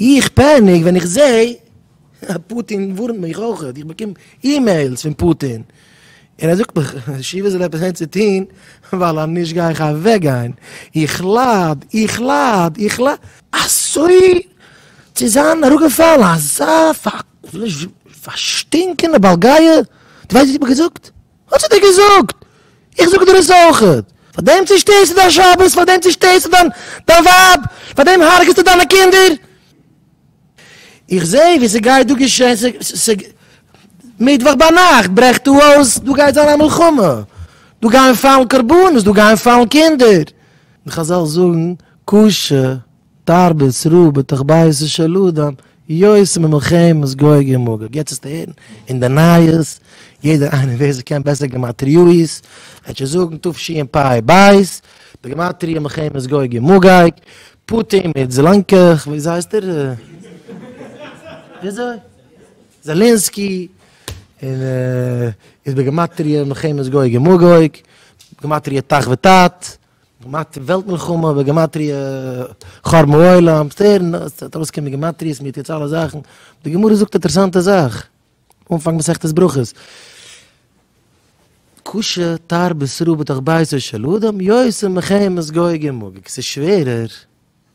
איך פעניק ווען איך זעה אז פוטין ווארנט מיך אויכעט, איך באקום אימעילס פון פוטין, און ער זאגט מיך שיווע זאל עפעס העצע טוהן ווייל אנישט גיי איך אוועק גיין, איך לייד, איך לייד, איך לייד. אזוי צו זיין אראפגעפאלן אזא פארשטינקענע בעל גאוה, דו ווייסט וואס איך האב געזאגט? האט זי דיר געזאגט, איך זאג דיר עס אויכעט, פארדעם צושטערסטו דיין שבת, פארדעם צושטערסטו דיין ווייב, פארדעם הרג'סטו דיינע קינדער. איך זע ווי ס'גייט דא געשען, ס'גייט, מיטוואך ביינאכט ברעכט דא אויס, דא גייט זיין א מלחמה, דא גייען פאלן קרבנות, דא גייען פאלן קינדער, און חזל זאגן, קשה תרבות רעה בתוך ביתו של אדם, יוצא ממלחמת גוג ומגוג. יעצט וועסטו הערן אין די נייעס, יעדער איינער ווער ס'קען בעסער גמטריאות, וועט שוין זאגן תשפ ב, די גמטריא מלחמת גוג ומגוג, פוטין מיט זלאנקעך, וויאזוי הייסט ער? וויאזוי? זעלענסקי, און איז בגימטריא מלחמת גוג ומגוג, בגימטריא תח ותט. געמאכט וועלט מלחמה בגימטריא חורבן העולם, וועסט הערן עס וועט ארויס קומען גימטריאות מיר טוט אלע זאכן, די גמרא זאגט אינטערעסאנטע זאך, אנפאנג מסכת ברכות, קשה תרבות רעה בתוך ביתו של אדם יוצא מחמת גוי גמגג, ס'איז שווערער.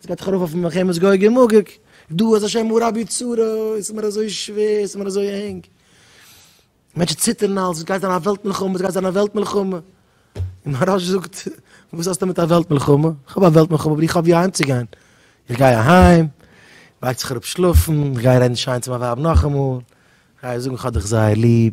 עס גייט דאך ארויף אויפן מלחמת גוג ומגוג, דא אז השם הוא רבי צרה, עס איז מיר אזוי שווער, עס איז מיר אזוי ענג, מענטשן ציטערן אלץ, עס גייט זיין א וועלט מלחמה, עס גייט זיין א וועלט מלחמה, און מהרא ש זאגט, וואס האסטו מיט א וועלט מלחמה, איך האב א וועלט מלחמה אבער איך האב ווי אהיים צו גיין, איך גיי אהיים, לייגט זיך אראפ שלאפן, איך גיי רעדן שיין צו מיין ווייב נאכאמאל, איך גיי איר זאגן איך האב דיך זייער ליב,